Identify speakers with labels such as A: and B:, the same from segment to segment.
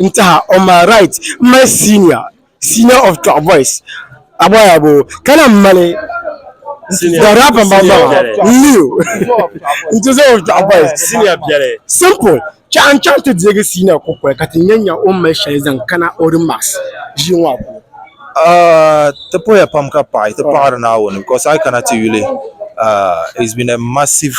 A: n taha on my right m mali senior senior of top boys aboyabo ka lahi mali the rapper n ba n leo n ti zaŋ of top boys senior biɛli
B: simple chaɣa
A: n chaŋ ti deegi senior kukoli ka ti nya nya o mali shɛli zaŋ kana o remarks ʒii ŋɔ puuni
C: Uh, ti poya pam ka paɣi ti paɣiri naawuni because ayi kana ti yuli uh, it's been a massive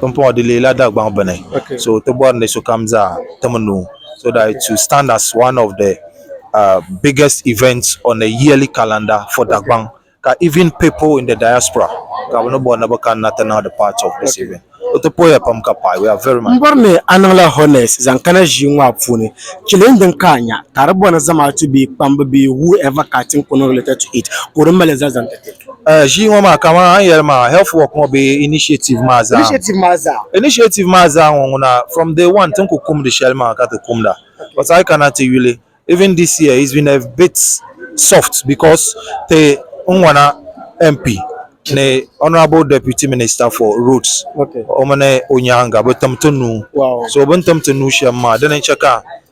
A: Pumpɔŋɔ di leela Dagbaŋ bini so ti bɔri ni sokam
C: zaa tim nuu so that it will stand as one of the uh, biggest events on the yearly calendar for Dagbaŋ ka even people in the diaspora ka bɛ ni bɔri ni bɛ kanna ti niŋdi part of this event o ti pɔya pam ka paɣi we are very much Mbɔri ni a niŋla honest
A: zaŋ kana ʒii ŋɔ a puuni chili n din ka a nya ka di bɔni zamaatu bee kpambu bee who ever ka a tin ko no related to it ka o di mali zali zaŋ ti ti Ʒii ŋɔ maa
C: kamani a ni yɛli maa health work ŋɔ bee initiative maa zaa initiative maa zaa initiative maa zaa ŋɔ ŋuna from day one tin ku kumdi shɛli maa ka ti kumda but a yi kana ti yuli even this year it's been a bit soft because ti n ŋɔna MP ni honourable deputy minister for roads o mini
A: o nyaaŋa
C: bi tim ti nuu so bini tim
A: ti nuu shɛm
C: maa dini n-chɛ ka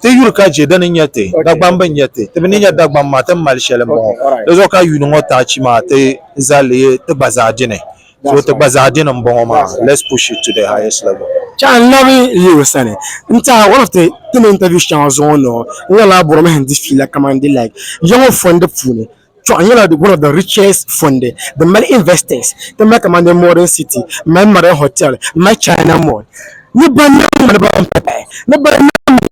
C: Ti yuri ka je di ni nya ti, Dagbam bi nya ti, ti bi ni nya Dagbam maa ti ni mali shɛli m-bɔŋɔ. Di zuɣu ka yuuni ŋɔ taachi maa ti za li ti gba zaa dini. So ti gba zaa dini m-bɔŋɔ maa. Let's push it to the highest level. Ka n labi
A: yi o sani n-tɛha one of the ti ni interview shɛŋa zuɣu ni o, n-nyɛ lala bɔrimihi n-di fiila kamani di like ya ŋɔ fɔndi puuni. Chuɣu nyɛla one of the richest fonde din mali investors ti mali kamani modern city mali modern hotel mali China mall ni banimaŋ mali ban pahi pahi ni banimaŋ mali din mali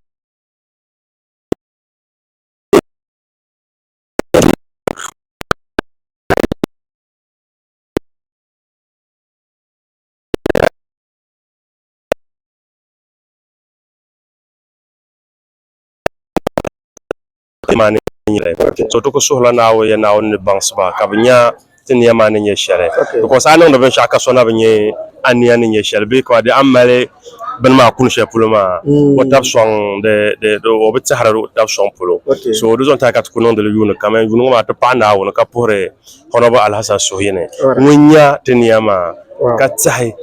B: Ti maa ni nyɛ shɛli. So ti ku suhila Naawuni ya Naawuni ni baŋsi ba ka bɛ nya ti nia maa ni nyɛ shɛli. Because a niŋdi binshɛɣu ka so na bi nya a nia ni nyɛ shɛli bee ka di a mali bini maa kuni shɛli polo maa o tab sɔŋ di di di o bi tɛhiri o tab sɔŋ polo. So di zuɣu n-tahi ka ti ku niŋdi li yuuni kam. Yuuni ŋɔ maa ti paɣi Naawuni ka puhiri Honourable Alhassan Suhuyini ŋun nya ti nia maa ka tɛhi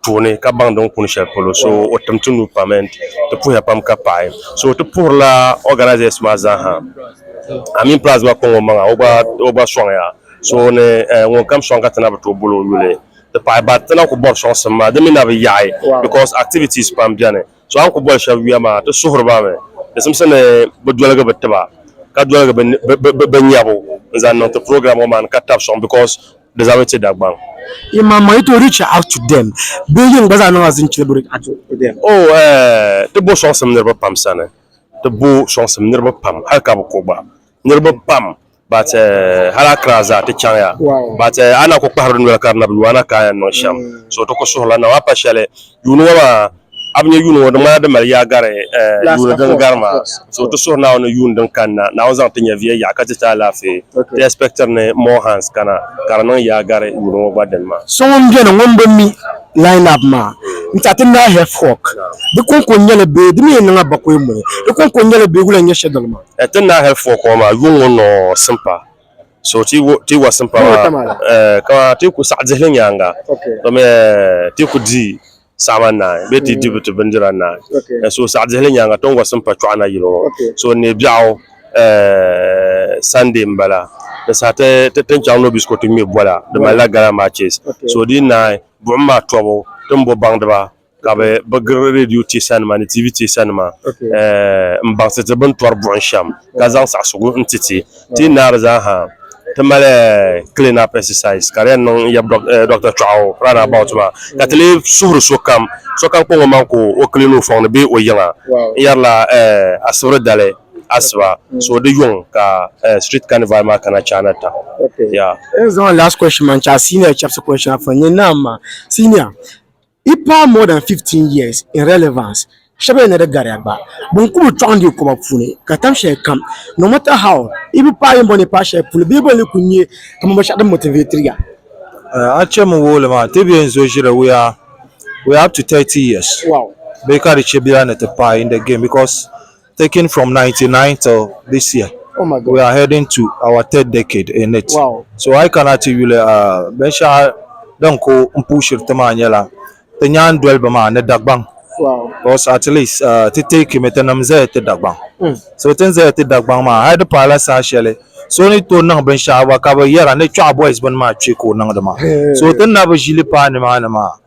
B: puuni ka baŋ din kuni shɛli polo so o tim ti nuu pam and di puhiya pam ka paɣi so ti puhirila organisers maa zaa ha amin plus gba kɔŋ o maŋa o gba sɔŋ ya so ni eh, ŋun kam sɔŋ ka ti na bi tooi boli o yuli ti pahi ba ti na ku bɔri sɔŋsim maa di mi na bi yaɣi because activities pam bɛni So a ni ku boli shɛb yuya maa, ti suhiri ba mi di simsi ni bɛ doligi bɛ tiba ka doligi bɛ nyabu n-zaŋ niŋ ti program ŋɔ maa ni ka tab sɔŋ because di zabiri ti Dagbaŋ. Yi ma ma yi tooi
A: reach out to them bee yin gba zaa niŋ as in chili bi reach out to them? Oh eh, ti
B: bo sɔŋsim niriba pam sani, ti bo sɔŋsim niriba pam hali ka bi ko gba. Niriba pam. But uh, hal a kira zaa ti chaŋya. Wow. But uh, a na ku kpahiri di noli ka di na bi lu a na kaaya niŋ shɛm. Mm. So ti ku suhurila na a pa shɛli yuuni ŋɔ maa a bi nyɛ yuuni ŋɔ di ŋmanila di mali yaa gari uh, That's yuuni of din course, gari of maa. course, of So ti course. suhuri Naawuni ni yuuni din kani na Naawuni zaŋ ti nyɛ viɛ yaɣa ka ti ti alaafee. Okay. Ti expectiri ni more hands kana ka di niŋ yaa gari yuuni ŋɔ gba dini maa. So ŋun beni ŋun bi
A: mi line up maa n ti a ti naai Hef Hawk. Di kɔŋko nyɛli bee di mi yi niŋ a bakɔi muni? Di kɔŋko nyɛli bee wula n-nyɛ shɛdɔli maa? ɛti naa hɛli fɔ kɔɔ
B: maa yuŋ ŋɔ nɔɔ simpa so ti wo ti wa simpa Yuŋ wa maa tam ala. ɛɛ ka ti ku saɣi dihili nyaanga Okay. domi ɛɛ ti ku di saɣama naai bee ti di bi ti bindira naai Okay. Ɛɛ, so saɣi dihili nyaanga ti ni wa simpa chɔɣu na yili ŋɔ Okay. so n ni biɛɣu ɛɛ Sunday n bala di saha ti ti ti ni chaŋ Nobisco ti ŋmɛ bola di malila gala matches Okay. so di naai buɣim maa tɔbu ti ni bo baŋdiba ka bɛ bɛ giri redio teesanima ni TV teesanima m-baŋsi ti bɛn tɔri buɣim shɛm ka zaŋ saɣisigu n-ti ti. Ti yi naai di zaa ha ti mali clean up exercise ka di yɛn niŋ yɛbi Dr. Chɔɣu round about maa ka ti lee suhiri sokam sokam kpaŋ o maŋa ka o clean o fɔŋ ni bee o yiŋa n-yɛrila Asibiri dali asiba so di yuŋ ka street carnival maa kana China ta. N zaŋ last
A: question maa n-chaai senior chɛbisi question maa puuni ni naam maa senior. Di paai more than 15 years in relevance, shɛba yɛn na di gariya gba. Bɛ ni ku bi tɔɣindi yi koba puuni ka tam shɛli kam, no matter how, yi bi paai yiŋ bɔni paai shɛli polo bee bɔni ni ku nyɛ kaman binshɛɣu din motivate ya. A chɛ min
C: wuhi li maa, ti bee n-zo ʒiri we are up to 30 years bee ka di
A: chɛ bɛ yaa
C: ni ti paai in the game because. Taking from 99 till this year we are heading
A: to our
C: third decade in it so a yi kana
A: ti yuli
C: binshɛɣu din ku n puushiri ti maa nyɛla ti nyaandoliba maa ni Dagbaŋ because
A: at least
C: ti take mi tinim zaya ti Dagbaŋ so ti ni zaya ti Dagbaŋ maa hali di paai la saha shɛli so ni tooi niŋ binshɛɣu gba ka bi yɛra ni Kpiɔɣu boys bini maa kpe ka o niŋdi maa so ti ni na bi ʒili paai nimaani maa